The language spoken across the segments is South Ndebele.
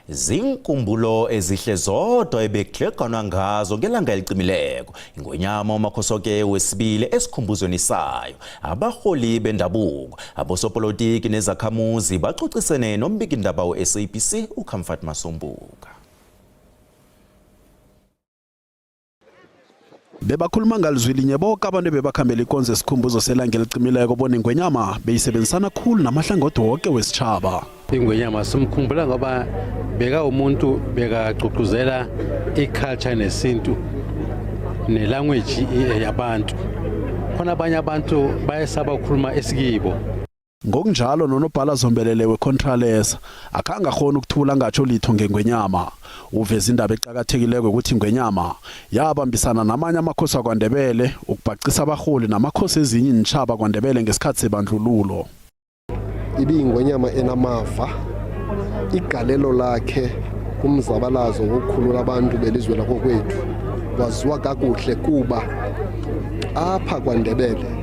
zinkumbulo ezihle zodwa ebekugleganwa ngazo ngelanga elicimileko ingonyama umakhosoke wesibili esikhumbuzweni sayo abarholi bendabuko abosopolitiki nezakhamuzi bacocisene nombikindaba we-sabc ucomfort masombuka Bebakhuluma ngalizwi linye boke abantu ebebakhambela ikonzo esikhumbuzo selanga elicimileko bona ingwenyama beyisebenzisana khulu namahlangothi woke wesitjhaba ingwenyama simkhumbula ngoba beka umuntu bekagqugquzela i-culture nesintu nelanguage yabantu khona abanye abantu bayesaba ukukhuluma esikibo Ngokunjalo nonobhala zombelele weContralesa akhange akghona ukuthula angatjho litho ngengwenyama. Uveza indaba eqakathekileko ukuthi ingwenyama yabambisana namanye amakhosi akwaNdebele ukubhacisa abarholi namakhosi ezinye iintjhaba kwaNdebele ngesikhathi sebandlululo. Ibiyingwenyama enamava, igalelo lakhe kumzabalazo wokukhulula abantu belizwe lakokwethu waziwa kakuhle kuba apha kwaNdebele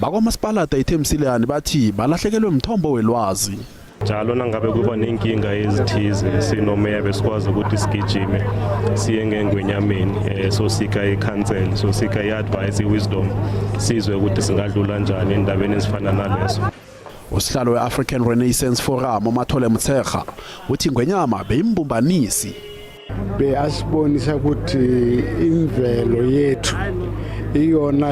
bakwamasipalada ithemsileyani bathi balahlekelwe mthombo welwazi njalo nangabe kuba nenkinga ezithize sinomeya besikwazi ukuthi sigijime siye ngengwenyameni um eh, sosika i-council sosika i-advice i-wisdom sizwe ukuthi singadlula njani endabeni ezifana naleso usihlalo we-african renaissance forum umathole mtserha uthi ngwenyama beyimbumbanisi beyasibonisa ukuthi imvelo yethu iyona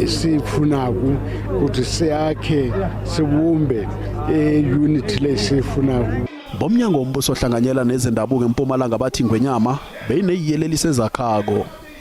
siyifunako ukuthi siyakhe sibumbe e-unit le siyifunako bomnyango wombuso ohlanganyela nezendabuko empumalanga bathi ngwenyama beyineyiyelelisi ezakhako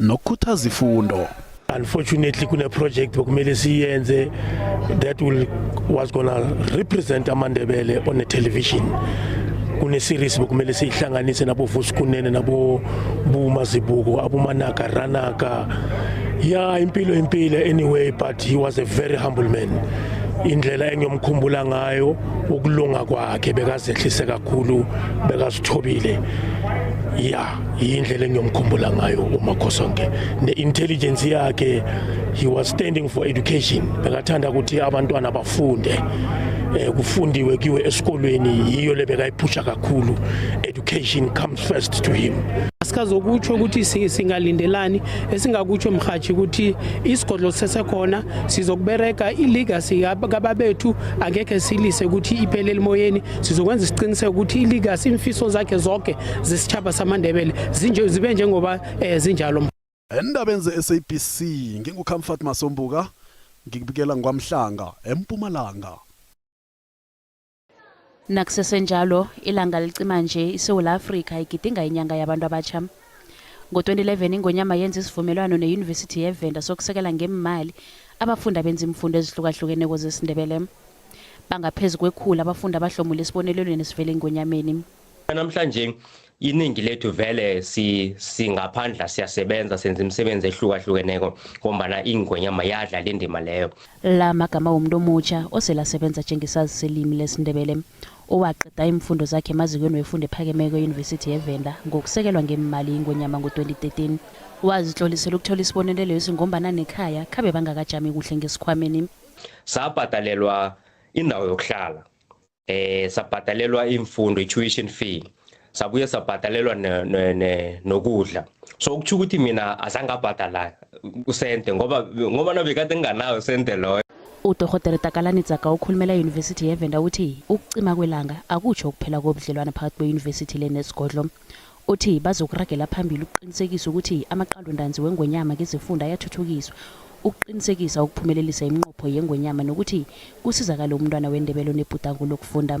nokukhuthaza ifundo unfortunately kune-project bekumele siyenze that will, was gonna represent amandebele on a television kune-series bekumele siyihlanganise nabovusikunene nabobumazibuko abomanaka ranaka ya impilo impilo anyway but he was a very humble man indlela engiyomkhumbula ngayo ukulunga kwakhe bekazehlise kakhulu bekazithobile ya yindlela engiyomkhumbula ngayo umakhosonke ne-intelligence yakhe he was standing for education bekathanda ukuthi abantwana bafunde eh, kufundiwe kiwe esikolweni yiyo le bekayiphusha kakhulu education comes first to him sikazokutsho ukuthi singalindelani esingakutsho mhathi ukuthi isigodlo sisesekhona sizokubereka ilegacy kababethu angekhe silise ukuthi iphelele emoyeni sizokwenza isiqiniseko ukuthi iligasi imfiso zakhe zonke zesitshaba samandebele zibe njengoba um eh, zinjalo endabeni ze-sabc ngingukhamfat masombuka ngikubikela ngwamhlanga empumalanga nakusesenjalo ilanga licima nje isewula afrika igidinga inyanga yabantu abatsha Ngo-2011 iNgonyama yenza isivumelwano neYunivesithi yeVenda sokusekela ngeemali abafundi abenza iimfundo ezihlukahlukeneko zesiNdebele. Bangaphezu kwekhulu abafundi abahlomule esibonelelweni esivela eNgonyameni. Namhlanje iningi lethu vele si singaphandla siyasebenza senza imisebenzi ehlukahlukeneko ngombana ingonyama yadla le ndima leyo la magama womuntu omutjha oselasebenza njengesazi selimi lesindebele owaqeda iimfundo zakhe emazikweni wefundo ephakemeko eyunivesithi yevenda ngokusekelwa ngeemali ingonyama ngo-2013 wazitlolisela ukuthola isibonelelo esi ngombana nekhaya khabe bangakajami kuhle ngesikhwameni sabhadalelwa indawo yokuhlala eh sabhadalelwa iimfundo i-tuition fee sabuye sabhadalelwa nokudla so ukutsho ukuthi mina azange abhadala usente ngoba ngoba nabekade nginganawo usente loyo udorhotere takalani tsaka okhulumela eyunivesithi yevenda uthi ukucima kwelanga akutsho ukuphela kobudlelwana phakathi kweyunivesithi le nesigodlo uthi bazokuragela phambili ukuqinisekisa ukuthi amaqalondanzi wengonyama ngezifunda ayathuthukiswa ukuqinisekisa ukuphumelelisa iminqopho yengonyama nokuthi kusizakale umntwana wendebelo nebhudango lokufunda